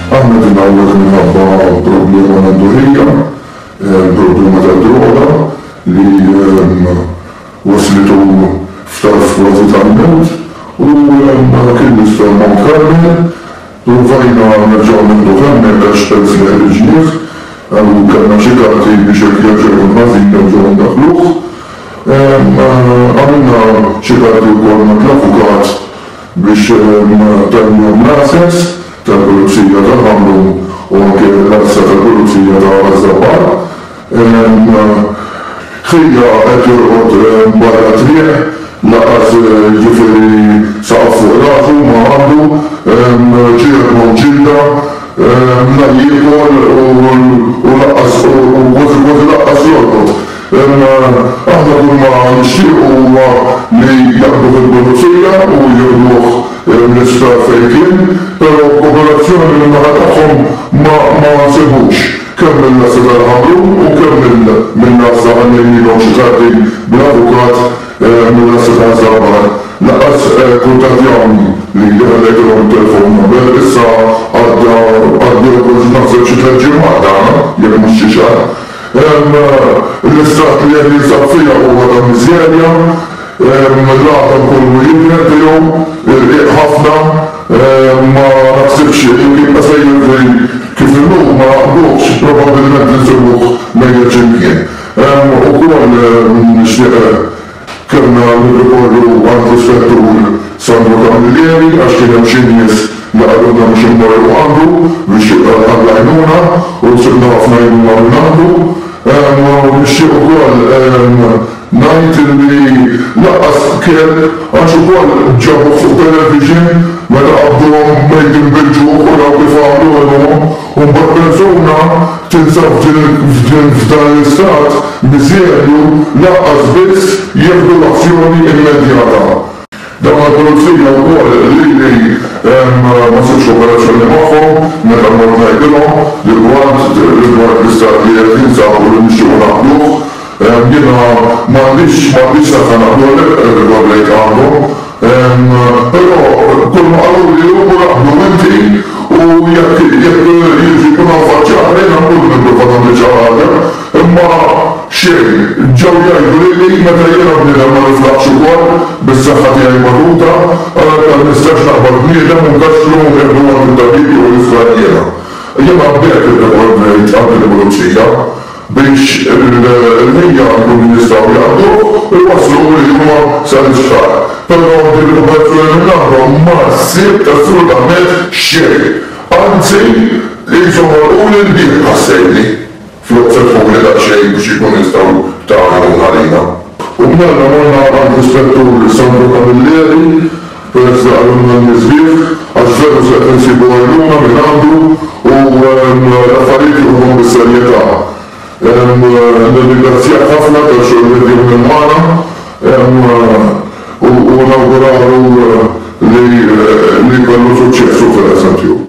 Aħna din hawnhekk minħabba problema l-għandurija, problema ta' droga li waslitu f'tarf kważi tal-mewt u kien niftaħ Mount Carmel. Provajna nerġgħu nieħduh hemmhekk għax peress li ħriġnieh u kellna xi karti biex jekk jerġa' jkun ħażin nerġgħu ndaħħluh. Għamilna xi karti wkoll ma' l-avukat biex dan jom l-għases tal-Pulizija ta' Ħamrun u anke l-għassa tal-Pulizija ta' Għaż-Żabbar ħija qed jorqod barra t-triq lanqas jiġifieri saqaf fuq rasu ma għandu ġieħ u ġilda la jiekol u lanqas u kważi kważi lanqas jorqod. Imma aħna kull ma nixtiequ huwa li jaqbdu fil-pulizija u jieħduh mill-isptar fejn kien, però kooperazzjoni min-naħa tagħhom ma ma nsibux, kemm mill-Għassa tal-Ħamrun u kemm mill mill-Għassa ħallejnielhom xi karti bl-avukat mill-Għassa taż-Żabbar lanqas kuntattjawni li li ħallejtilhom it-telefon number issa għadda għaddew kont naħseb xi tliet ġimgħat dan jekk mhux xi xahar. l-istat li qed jinsab fiha huwa ta' miżerja, l-għatam kollu jidher tiegħu, irqiq ħafna, ma naħsibx li jekk jibqa' sejjer f'din kif inhu ma naqbdux, probabbilment insibuh mejjet xi mkien. Hemm ukoll nixtieq Kellna nirrikorru għall-Ispettur Sandro Camilleri għax kien hemm xi nies li qalulna biex immorru għandu biex għall-għajnuna u ksibna ħafna għajnuna minn għandu. U nixtieq ukoll ngħid li lanqas kelb għax ukoll ġabuh fuq television meta qabduhom Made in Belgium u raw kif għamlu għeluhom. U mbagħad persuna tinsab f'dan l-istat miżerju lanqas biss jieħdu l-azzjoni immedjata. Dawn il-pulizija wkoll lili ma sibtx kooperazzjoni magħhom meta mort ngħidilhom rigward l-istat li qed ninsab u li nixtiequ naqduh. Jiena m'għandix m'għandix naqta' naqblu għalhekk irrikorrejt għandhom. Però kull ma qaluli hu mur aqblu inti u jekk jekk jiġri jkun hawn faċċata jiena nkun nipprova nagħmel xi ħaġa. Imma xejn. Ġew jgħiduli li meta jiena bniedem ma niflaħx ukoll bis-saħħa tiegħi magħluta għalhekk ma nistax naqbad bniedem u nkaxxlu u nieħdu għand it-tabib jew nifla jiena. Jiena b'hekk irrikorrejt għand il-pulizija. biex il-ħin jkunu jistgħu jaqduh u jwasslu l-ilma sal-isptar, però din il-popolazzjoni minn għandhom ma sibt assolutament xejn, anzi qishom għolquli l-bieb ħassejtni, flok fetħuli daqsxejn biex ikunu jistgħu jtagħmu l-ħalina. U b'medda morna għand l-Ispettur Sandro Camilleri, Peress li qalulna l-miżżieħ, għax veru se qed insibu għajnuna minn għandu u l-affarijiet jieħuhom bis-serjetà. Nirringrazzjah ħafna tax-xogħol li qed jagħmel magħna u nawgurawlu li jkollu suċċess hu fil-qasam tiegħu.